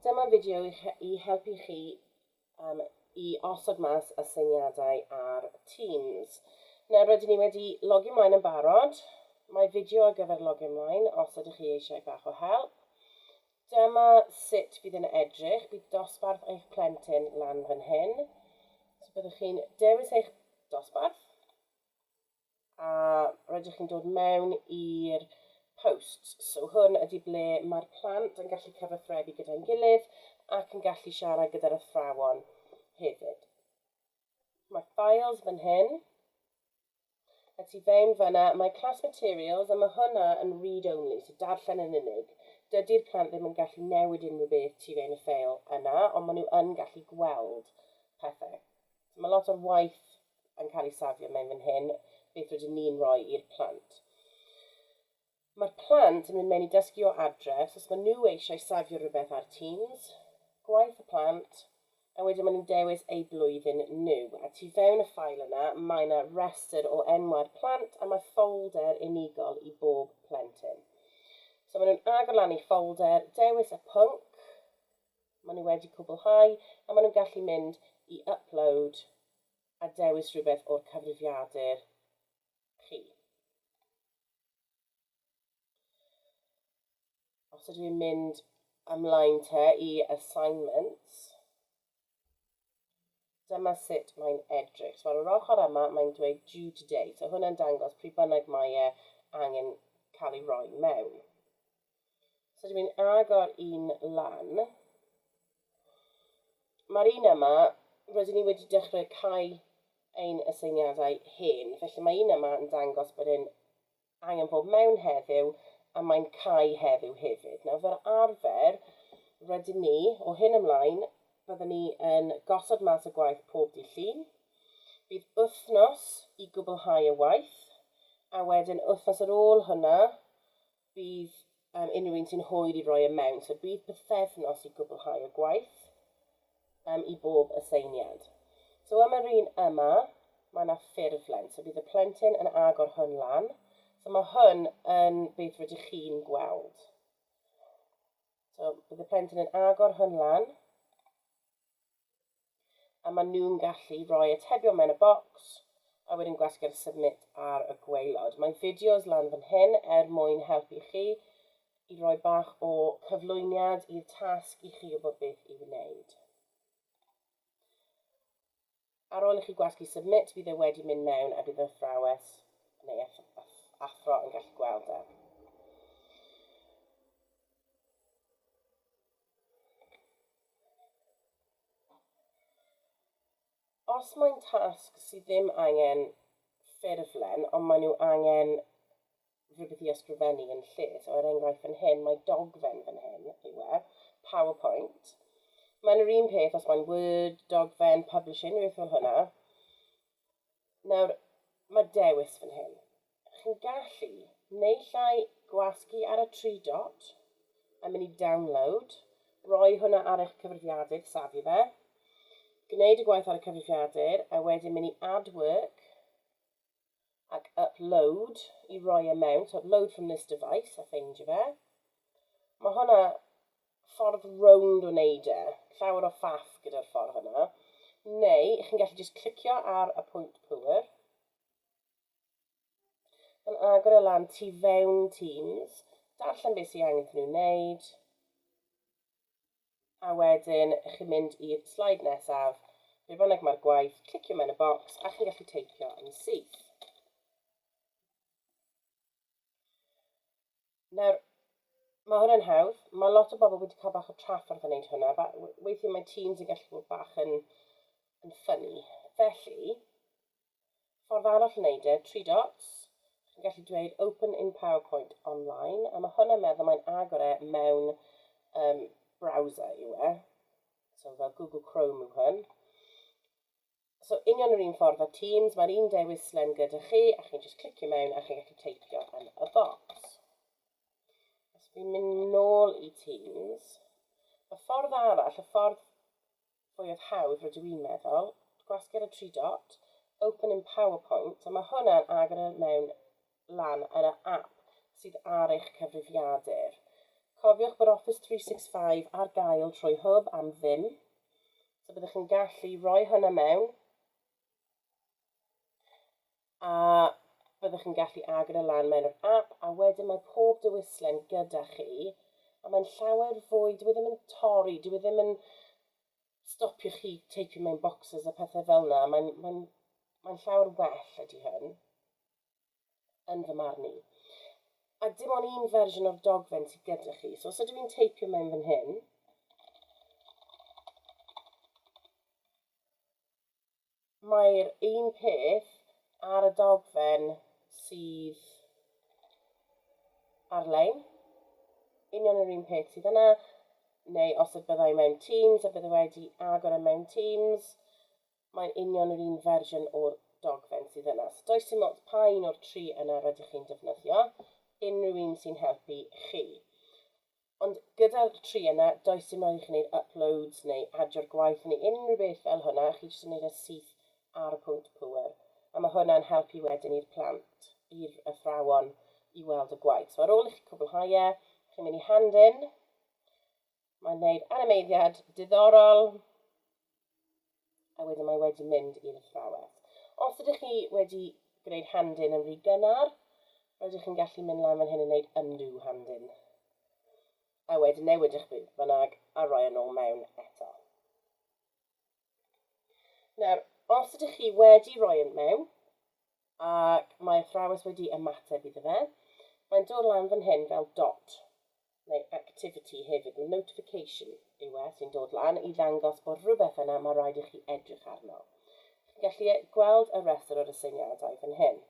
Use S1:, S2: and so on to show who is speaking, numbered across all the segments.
S1: Dyma fideo i helpu chi um, i osod mas aseiniadau ar Teams. Nawr rydyn ni wedi logio mlaen yn barod. Mae fideo ar gyfer logio mlaen os ydych chi eisiau bach o help. Dyma sut bydd yn edrych. Bydd dosbarth eich plentyn lan fan hyn. So byddwch chi'n dewis eich dosbarth. a rydych chi'n dod mewn i'r posts. So hwn ydy ble mae'r plant yn gallu cyfathrebu gyda'n gilydd ac yn gallu siarad gyda'r athrawon hefyd. Mae files fan hyn. A ti fewn fanna, mae class materials a mae hwnna yn read-only, so darllen yn unig. Dydy'r plant ddim yn gallu newid unrhyw beth ti fewn y ffeil yna, ond maen nhw yn gallu gweld pethau. So mae lot o'r waith yn cael ei safio mewn fan hyn, beth rydyn ni'n rhoi i'r plant. Mae'r plant yn mynd mewn i dysgu o adref, so os maen nhw eisiau safio rhywbeth ar Teams, gwaith y plant, a wedyn maen nhw'n dewis eu blwyddyn nhw. A tu fewn y ffael yna, mae yna restr o enwau'r plant a mae ffolder unigol i bob plentyn. So maen nhw'n agor lan eu ffolder, dewis y pwnc, Maen nhw wedi cwblhau a maen nhw'n gallu mynd i Upload a dewis rhywbeth o'r cyfrifiadur chi. Os ydw i'n mynd ymlaen te i Assignments, Dyma sut mae'n edrych. So ar yr ochr yma, mae'n dweud due today. So hwnna'n dangos pryd bynnag mae e angen cael ei roi mewn. So dwi'n mynd agor un lan. Mae'r un yma, rydyn ni wedi dechrau cael ein aseiniadau hen, felly mae un yma yn dangos bod e'n I am bod mewn heddiw a mae'n cau heddiw hefyd. Nawr fel arfer, rydyn ni, o hyn ymlaen, byddwn ni yn gosod mas y gwaith pob dydd Llun. Bydd wythnos i gwblhau y waith, a wedyn wythnos ar ôl hwnna bydd Am unrhyw un sy'n hwyr i roi y mewn, so bydd pythefnos i gwblhau y gwaith um, i bob aseiniad. So am yr un yma, mae yna ffurflen, so bydd y plentyn yn agor hwn lan. So mae hwn yn beth rydych chi'n gweld. So bydd y plentyn yn agor hwn lan. a maen nhw'n gallu rhoi atebion mewn y bocs a wedyn gwasgu'r submit ar y gwaelod. Mae fideos lan fan hyn er mwyn helpu chi i roi bach o cyflwyniad i'r tasg i chi wybod beth i'w wneud. Ar ôl i chi gwasgu submit, bydd e wedi mynd mewn a bydd yr athrawes neu athro yn gallu gweld e. Os mae'n tasg sydd ddim angen ffurflen, ond maen nhw angen rhywbeth i ysgrifennu yn lle, so er enghraifft fan hyn, mae dogfen fan hyn yw e, PowerPoint. Mae'n yr un peth os mae'n Word, dogfen, publishing, rhywbeth fel hwnna. Nawr, mae dewis fan hyn. Chi'n gallu naill ai gwasgu ar y tri dot a mynd i Download, roi hwnna ar eich cyfrifiadur, safu fe, gwneud y gwaith ar y cyfrifiadur a wedyn mynd i Add Work ac Upload i roi e mewn, so Upload from this device a ffeindio fe. Mae hwnna ffordd rownd o neud e, llawer o faff gyda'r ffordd yna, neu chi'n gallu jyst clicio ar y pwynt pŵer, yn agor e lan tu fewn Teams, darllen beth sy'n angen iddyn nhw wneud, a wedyn chi'n mynd i'r slide nesaf, be bynnag mae'r gwaith, clicio mewn y bocs a chi'n gallu teipio yn syth. Nawr, mae hwnna'n hawdd. Mae lot o bobl wedi cael bach o trafferth yn wneud hwnna. Weithiau mae teams yn gallu bod bach yn, yn ffynnu. Felly, ffordd arall yn wneud e, tri dots, chi'n gallu dweud open in PowerPoint online, a mae hwnna'n meddwl mae'n agor e mewn um, browser yw e. So fel Google Chrome yw hwn. So union yr un ffordd â Teams, mae'r un dewis slen gyda chi, a chi'n just clicio mewn a chi'n gallu teipio yn y bocs. Os fi'n mynd nôl i Teams, y ffordd arall, y ffordd fwyaf hawdd rydw i'n meddwl, gwasgu'r y tri dot, open in PowerPoint, a mae hwnna'n agor e mewn lan ar y ap sydd ar eich cyfrifiadur. Cofiwch bod Office 365 ar gael trwy Hwb am ddim, so byddwch chi'n gallu rhoi hwnna mewn a byddwch chi'n gallu agor e lan mewn yr ap a wedyn mae pob dewislen gyda chi a mae'n llawer fwy, dwi e ddim yn torri, dwi e ddim yn stopio chi teipio mewn boxes a pethau fel yna, mae'n mae mae llawer well ydy hyn. yn fy marn i. A dim ond un fersiwn o'r dogfen sydd gyda chi. So os ydw i'n teipio mewn fan hyn, mae'r un peth ar y dogfen sydd ar-lein. Union yr un peth sydd yna, neu os y byddai mewn Teams a byddai wedi agor y e mewn Teams, Mae union yr un fersiwn o'r dogfen sydd yna. So does dim ots pa un o'r tri yna rydych chi'n defnyddio, unrhyw un sy'n helpu chi. Ond gyda'r tri yna, does dim rhaid i chi wneud uploads neu adio'r gwaith neu unrhyw beth fel hwnna, chi jyst yn wneud e syth ar y pwynt pŵer. A mae hwnna'n helpu wedyn i'r plant, i'r athrawon, i weld y gwaith. So ar ôl i chi cwblhau e, chi'n mynd i hand-in, Mae'n gwneud animeiddiad diddorol. A wedyn mae wedi mynd i'r athrawes. Os ydych chi wedi gwneud handin yn rhy gynnar, rydych chi'n gallu mynd lan fan hyn yn gwneud undo handin. A wedyn newid eich bydd bynnag a roi yn ôl mewn eto. Nawr, os ydych chi wedi rhoi yn mewn, ac mae athrawes wedi ymateb iddo fe, mae'n dod lan fan hyn fel dot, neu activity hefyd, mae notification yw e sy'n dod lan i ddangos bod rhywbeth yna mae rhaid i chi edrych arno. Chi'n gallu e- gweld y rhestr o'r aseiniadau fan hyn.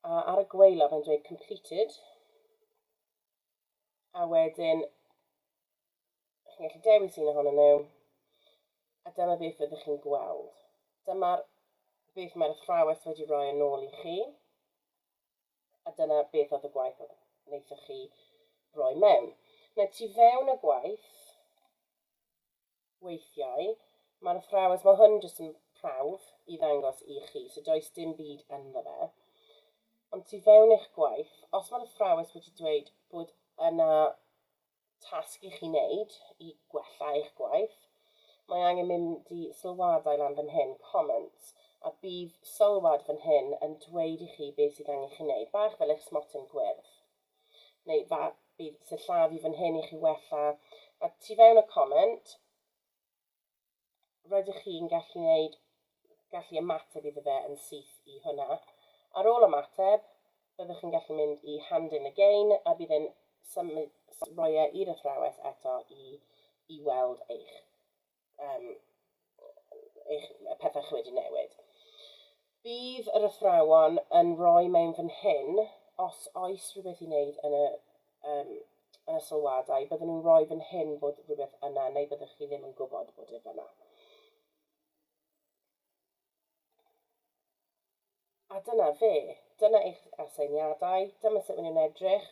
S1: A ar y gweilod mae'n dweud completed, a wedyn chi'n gallu dewis un ohonyn nhw, a dyma beth fyddwch chi'n gweld. Dyma'r beth mae'r athrawes wedi rhoi yn ôl i chi, a dyna beth oedd y gwaith oedd wnaethoch chi roi mewn. Mae tu fewn y gwaith, Weithiau, mae'r athrawes, mae hwn jyst yn prawf i ddangos i chi, so does dim byd ynddo fe. Ond tu fewn eich gwaith, os mae'r athrawes wedi dweud bod yna tasg i chi wneud i gwella eich gwaith, mae angen mynd i sylwadau lan fan hyn, comments, a bydd sylwad fan hyn yn dweud i chi beth sydd angen chi wneud, bach fel eich smotyn gwyrdd. neu fa, bydd sillafu fy nhên i chi wella. A tu fewn y comment, rydych chi'n gallu wneud, gallu ymateb iddo fe yn syth i hwnna. Ar ôl ymateb, byddwch chi'n gallu mynd i hand in again a bydd e'n symud, roi e i'r athrawes eto i, i weld eich yym eich pethau chi wedi newid. Bydd yr athrawon yn rhoi mewn fan hyn, os oes rhywbeth i wneud yn y, um, yn y sylwadau, byddwn nhw'n rhoi fan hyn bod rhywbeth yna neu byddwch chi ddim yn gwybod bod e fyna. A dyna fe. Dyna eich aseiniadau. Dyma sut maen nhw'n edrych.